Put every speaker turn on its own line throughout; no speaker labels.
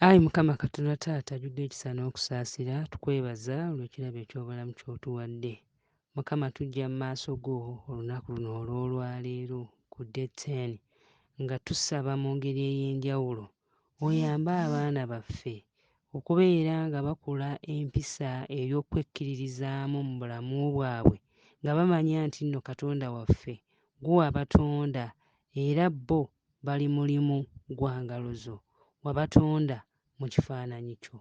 Ayi Mukama Katonda Taata ajudde ekisa n'okusaasira, tukwebaza olw'ekirabo eky'obulamu ky'otuwadde. Mukama tujja mu maaso go olunaku luno olw'olwaleero ku day ten nga tusaba mu ngeri ey'enjawulo oyambe abaana baffe okubeera nga bakula empisa ey'okwekkiririzaamu mu bulamu bwabwe nga bamanya nti nno Katonda waffe gwe wabatonda era bo bali mulimu gwa ngalo zo, wabatonda mu kifaananyi kyo.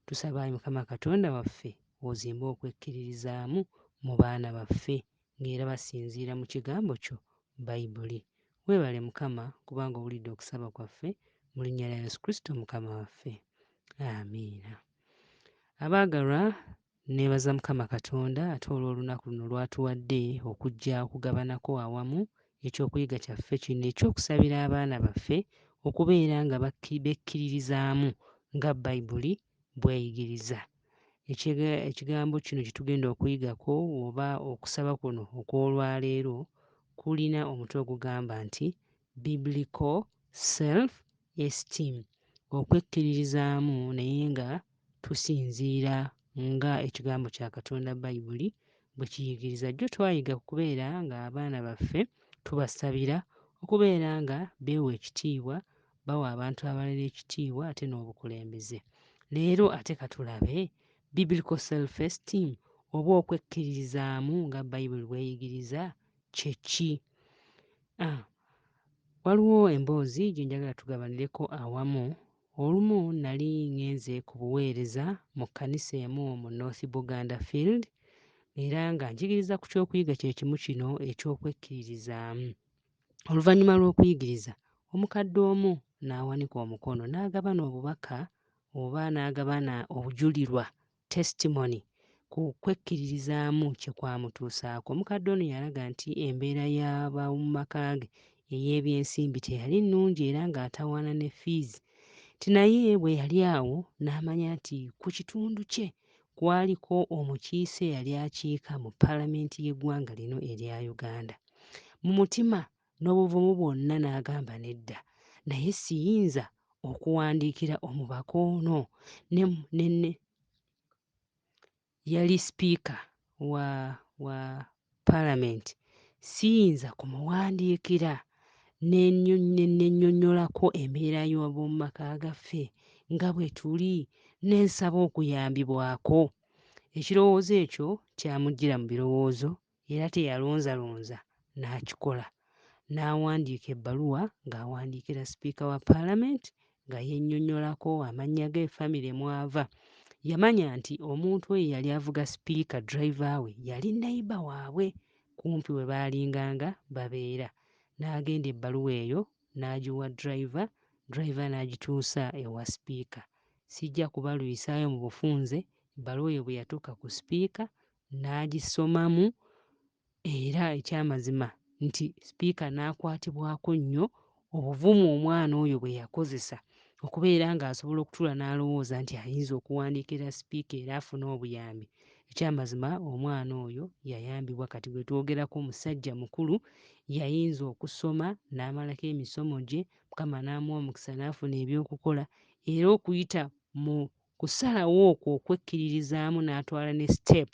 Tusaba, ayi Mukama Katonda waffe, ozimbe okwekkiririzaamu mu baana baffe ng'era basinziira mu kigambo kyo Baibuli. Weebale Mukama kubanga owulidde okusaba kwaffe mu linnya lya Yesu Kristo Mukama waffe. Amiina. Abaagalwa, Nneebaza Mukama Katonda ate olw'olunaku luno lw'atuwadde okujja okugabanako awamu eky'okuyiga kyaffe kino eky'okusabira abaana baffe okubeera nga bekkiririzaamu nga Baibuli bw'eyigiriza. Ekigambo kino kye tugenda okuyigako oba okusaba kuno okw'olwaleero kulina omutwe ogugamba nti Biblical self esteem, okwekkiririzaamu naye nga tusinziira nga ekigambo kya Katonda Bayibuli bwe kiyigiriza. Jjo twayiga ku kubeera ng'abaana baffe tubasabira, okubeera nga beewa ekitiibwa, bawa abantu abalala ekitiibwa ate n'obukulembeze. Leero ate ka tulabe Biblical self esteem oba okwekkiririzaamu nga Bayibuli bw'eyigiriza kye ki? A, Waliwo emboozi gye njagala tugabanireko awamu. Olumu nnali ŋŋenze ku buweereza mu kkanisa emu mu North Buganda Field era nga njigiriza ku ky'okuyiga kye kimu kino eky'okwekkiririzaamu. Oluvannyuma lw'okuyigiriza, omukadde omu n'awanika omukono n'agabana obubaka oba n'agabana obujulirwa testimony ku kwekkiririzaamu kye kwamutuusaako. Omukadde ono yalaga nti embeera y'ab'omu maka ge ey'ebyensimbi teyali nnungi era ng'atawaana ne fiizi nti naye bwe yali awo n'amanya nti ku kitundu kye kwaliko omukiise eyali akiika mu Palamenti y'eggwanga lino erya Uganda. Mu mutima n'obuvumu bwonna n'agamba nedda naye siyinza okuwandiikira omubaka ono ne, ne, ne yali sipiika wa, wa palamenti siyinza kumuwandiikira ne nnenyonnyolako embeera y'ab'omu maka gaffe nga bwe tuli ne nsaba okuyambibwako. Ekirowoozo ekyo kyamujjira mu birowoozo era teyalonzalonza n'akikola n'awandiika ebbaluwa ng'awandiikira Sipiika wa Palamenti nga yennyonnyolako amannya ge, famire mw'ava. Yamanya nti omuntu oyo eyali avuga Sipiika driver we yali neyiba waabwe kumpi we baalinganga babeera n'agenda ebbaluwa eyo n'agiwa driver, driver n'agituusa ewa Sipiika. Sijja kubalwisaayo mu bufunze, ebbaluwa eyo bwe yatuuka ku Sipiika n'agisomamu era ekyamazima nti Sipiika n'akwatibwako nnyo obuvumu omwana oyo bwe yakozesa okubeera ng'asobola okutuula n'alowooza nti ayinza okuwandiikira Sipiika era afune obuyambi. Ekyamazima omwana oyo yayambibwa kati gwe twogerako musajja mukulu yayinza okusoma n'amalako emisomo gye Mukama n'amuwa omukisa n'afuna eby'okukola era okuyita mu kusalawo okwo okwekkiririzaamu n'atwala ne step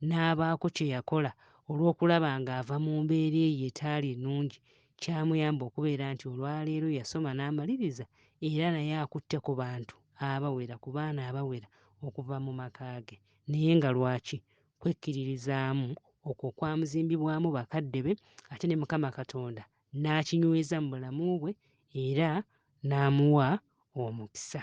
n'abaako kye yakola olw'okulaba ng'ava mu mbeera eyo etaali nnungi kyamuyamba okubeera nti olwaleero yasoma n'amaliriza era naye akutte ku bantu abawera ku baana abawera okuva mu maka ge naye nga lwaki kwekkiririzaamu okwo okwamuzimbibwamu bakadde be ate ne Mukama Katonda n'akinyweza mu bulamu bwe era n'amuwa omukisa.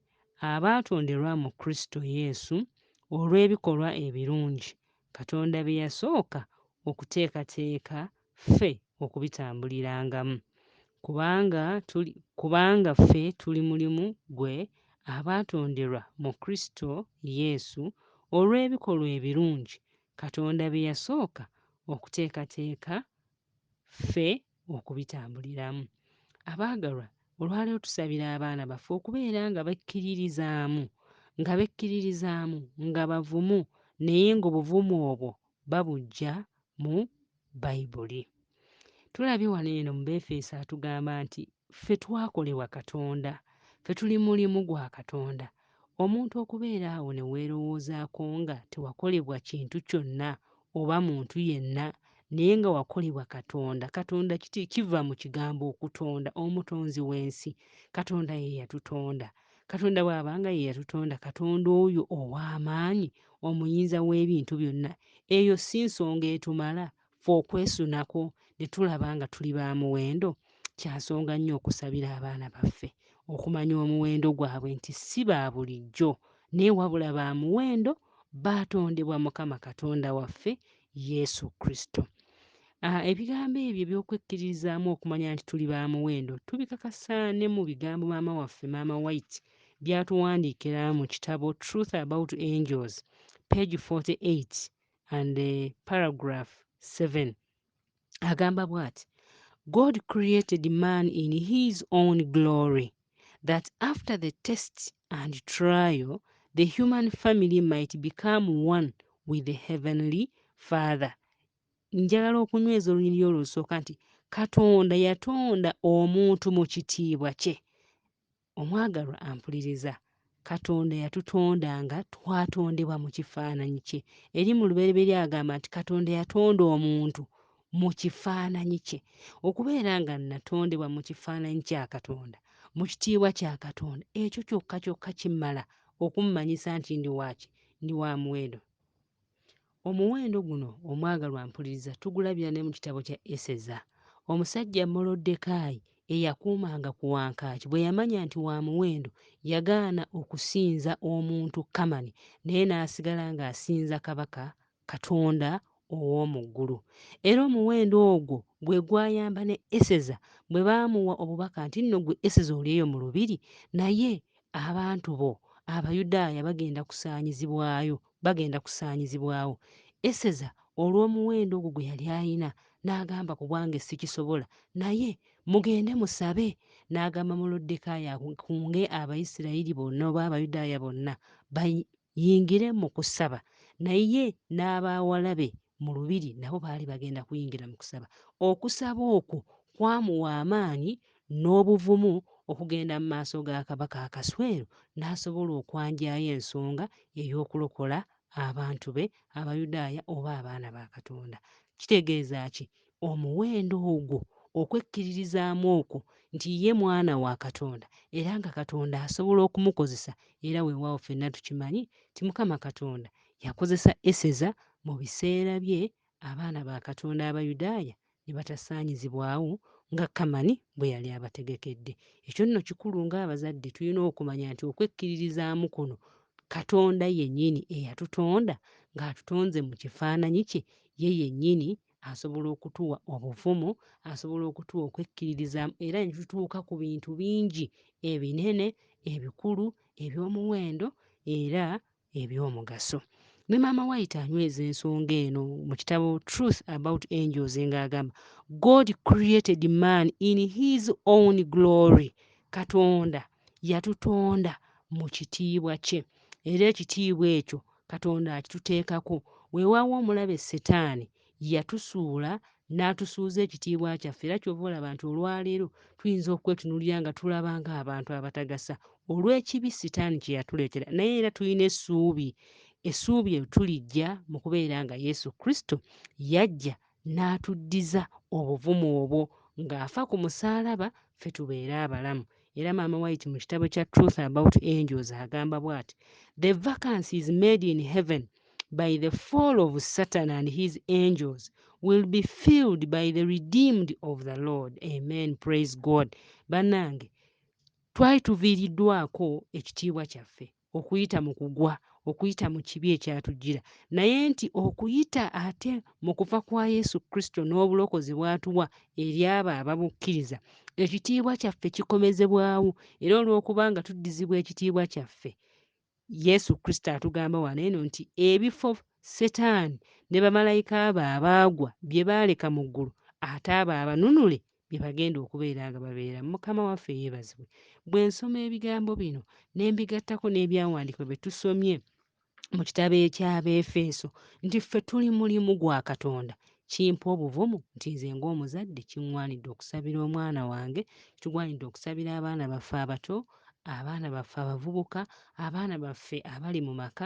abaatonderwa mu Kristo Yesu olw'ebikolwa ebirungi Katonda bye yasooka okuteekateeka ffe okubitambulirangamu, kubanga tuli, kubanga ffe tuli mulimu gwe abaatonderwa mu Kristo Yesu olw'ebikolwa ebirungi Katonda bye yasooka okuteekateeka ffe okubitambuliramu. Abaagalwa, olwaleero tusabira abaana baffe okubeera nga bekkiririzaamu, nga bekkiririzaamu, nga bavumu, naye ng'obuvumu obwo babuggya mu Bayibuli. Tulabye wano eno mu Beefeso atugamba nti Ffe twakolebwa Katonda. Ffe tuli mulimu gwa Katonda. Omuntu okubeera awo ne weerowoozaako nga tewakolebwa kintu kyonna oba muntu yenna, naye nga wakolebwa Katonda. Katonda kiti, kiva mu kigambo okutonda, Omutonzi w'ensi. Katonda ye yatutonda. Katonda bw'aba nga ye yatutonda, Katonda oyo ow'amaanyi, Omuyinza w'ebintu byonna, eyo si nsonga etumala ffe okwesunako ne tulaba nga tuli ba muwendo, kya nsonga nnyo okusabira abaana baffe okumanya omuwendo gwabwe nti si ba bulijjo naye wabula ba muwendo baatondebwa Mukama Katonda waffe Yesu Kristo. Ah, ebigambo ebyo eby'okwekkiririzaamu okumanya nti tuli ba muwendo tubikakasa ne mu bigambo maama waffe maama White by'atuwandiikira mu kitabo Truth About Angels, page 48. and uh, paragraph 7 agamba bwati god created man in his own glory that after the test and trial the human family might become one with the heavenly father njagala okunyweza olunyiriri olwo lusooka nti katonda yatonda omuntu mu kitiibwa kye Omwagalwa ampuliriza, Katonda yatutonda nga twatondebwa mu kifaananyi kye. Eri mu lubereberye agamba nti Katonda yatonda omuntu mu kifaananyi kye. Okubeera nga natondebwa mu kifaananyi kya Katonda, mu kitiibwa kya Katonda, ekyo kyokka kyokka kimala okummanyisa nti ndi waaki? Ndi wa muwendo. Omuwendo guno omwagalwa mpuliriza tugulabira ne mu kitabo kya Eseza. Omusajja Moloddekaayi eyakuumanga ku wankaaki bwe yamanya nti wa muwendo yagaana okusinza omuntu Kamani naye n'asigala ng'asinza kabaka Katonda ow'omu ggulu. Era omuwendo ogwo gwe gwayamba ne Eseza bwe baamuwa obubaka nti nno gwe Eseza oli eyo mu lubiri naye abantu bo Abayudaaya bagenda kusaanyizibwayo Bagenda kusaanyizibwawo. Eseza olw'omuwendo ogwo gwe yali alina, n'agamba, Ku bwange ssikisobola. Naye, mugende musabe. N'agamba Moluddekaayi akunge Abayisirayiri bonna, oba Abayudaaya bonna, bayingire mu kusaba naye n'abawala be mu lubiri nabo baali bagenda kuyingira mu kusaba okusaba okwo kwamuwa amaanyi n'obuvumu okugenda mu maaso ga kabaka akaswero n'asobola okwanjayo ensonga ey'okulokola abantu be abayudaaya oba abaana ba katonda kitegeeza ki Omuwendo ogwo, okwekkiririzaamu okwo nti ye mwana wa Katonda era nga Katonda asobola okumukozesa, era weewaawo ffenna tukimanyi nti Mukama Katonda yakozesa Eseza mu biseera bye abaana ba Katonda Abayudaaya ne batasaanyizibwawo nga Kamani bwe yali abategekedde. Ekyo nno kikulu ng'abazadde tulina okumanya nti okwekkiririzaamu kuno Katonda yennyini eyatutonda ng'atutonze mu kifaananyi kye ye yennyini asobola okutuwa obuvumu, asobola okutuwa okwekkiririzaamu era ne tutuuka ku bintu bingi ebinene, ebikulu, eby'omuwendo era eby'omugaso. Ne Maama White anyweza ensonga eno mu kitabo Truth About Angels ng'agamba, God created man in his own glory. Katonda yatutonda mu kitiibwa kye era ekitiibwa ekyo Katonda akituteekako. Weewaawo omulabe Setaani yatusuula n'atusuuza ekitiibwa kyaffe era ky'ova olaba nti olwaleero tuyinza okwetunuulira nga tulaba ng'abantu abatagasa olw'ekibi Setaani kye yatuleetera naye era tulina essuubi. Essuubi eryo tulijja mu kubeera nga Yesu Kristo yajja n'atuddiza obuvumu obwo ng'afa ku musaalaba ffe tubeere abalamu era maama white mu kitabo kya truth about angels agamba bwati the vacancy is made in heaven by the fall of satan and his angels will be filled by the redeemed of the lord amen praise god banange twali tuviiriddwako ekitiibwa kyaffe okuyita mu kugwa okuyita mu kibi ekyatujjira naye nti okuyita ate mu kufa kwa yesu kristo n'obulokozi bw'atuwa eri abo ababukkiriza ekitiibwa kyaffe kikomezebwawo era olw'okuba nga tuddizibwa ekitiibwa kyaffe yesu kristo atugamba wano eno nti ebifo setaani ne bamalayika abo abaagwa bye baaleka mu ggulu ate abo abanunule bye bagenda okubeera nga babeeramu. Mukama waffe yeebazibwe. Bwe nsoma ebigambo bino ne mbigattako n'ebyawandiikibwa bye tusomye mu kitabo eky'Abeefeso nti ffe tuli mulimu gwa Katonda, kimpa obuvumu nti nze ng'omuzadde kiŋŋwanidde okusabira omwana wange, kigwanidde okusabira abaana baffe abato, abaana baffe abavubuka, abaana baffe abali mu maka,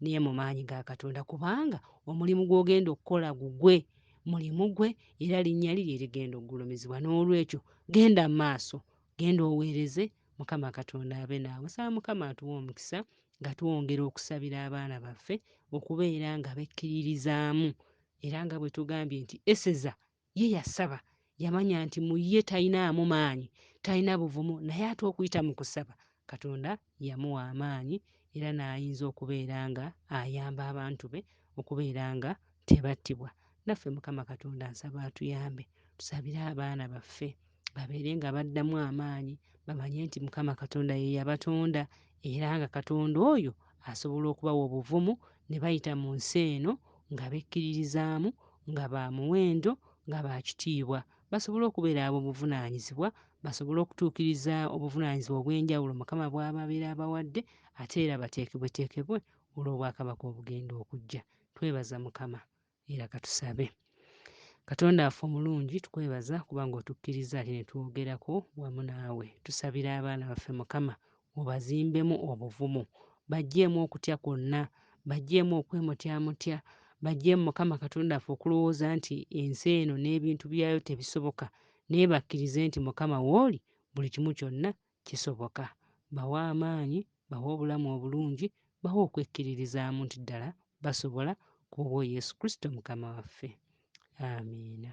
naye mu maanyi ga Katonda, kubanga omulimu gw'ogenda okukola gugwe, mulimu gwe, era linnya lye lye ligenda okugulumizibwa. N'olwekyo genda mu maaso, genda oweereze, Mukama Katonda abe naawe. Nsaba Mukama atuwe omukisa nga twongera okusabira abaana baffe okubeera nga bekkiririzaamu, era nga bwe tugambye nti Eseza Ye yasaba, yamanya nti mu ye talinaamu maanyi, talina buvumu, naye ate okuyita mu kusaba, Katonda yamuwa amaanyi era n'ayinza okubeera nga ayamba abantu be okubeera nga tebattibwa. Naffe Mukama Katonda nsaba atuyambe tusabire abaana baffe. babeere nga baddamu amaanyi bamanye nti mukama katonda ye yabatonda era nga katonda oyo asobola okubawa obuvumu ne bayita mu nsi eno nga bekkiririzaamu nga ba muwendo nga ba kitiibwa basobole okubeera ab'obuvunaanyizibwa basobole okutuukiriza obuvunaanyizibwa obw'enjawulo mukama bw'ababeera abawadde ate era bateekebweteekebwe olw'obwakabaka obugenda okujja twebaza mukama Era katusabe. Katonda waffe omulungi tukwebaza kubanga otukkiriza ate netwogerako wamu naawe tusabira abaana baffe mukama obazimbemu obuvumu bajjeemu okutya kwonna bajjeemu okwemutyamutya bajjeemu mukama katonda waffe okulowooza nti ensi eno n'ebintu byayo tebisoboka naye bakkirize nti mukama wooli buli kimu kyonna Kisoboka. Bawe amaanyi, bawe obulamu obulungi, bawe okwekkiririzaamu nti ddala basobola, ku bwo Yesu Kristo Mukama waffe. Amiina.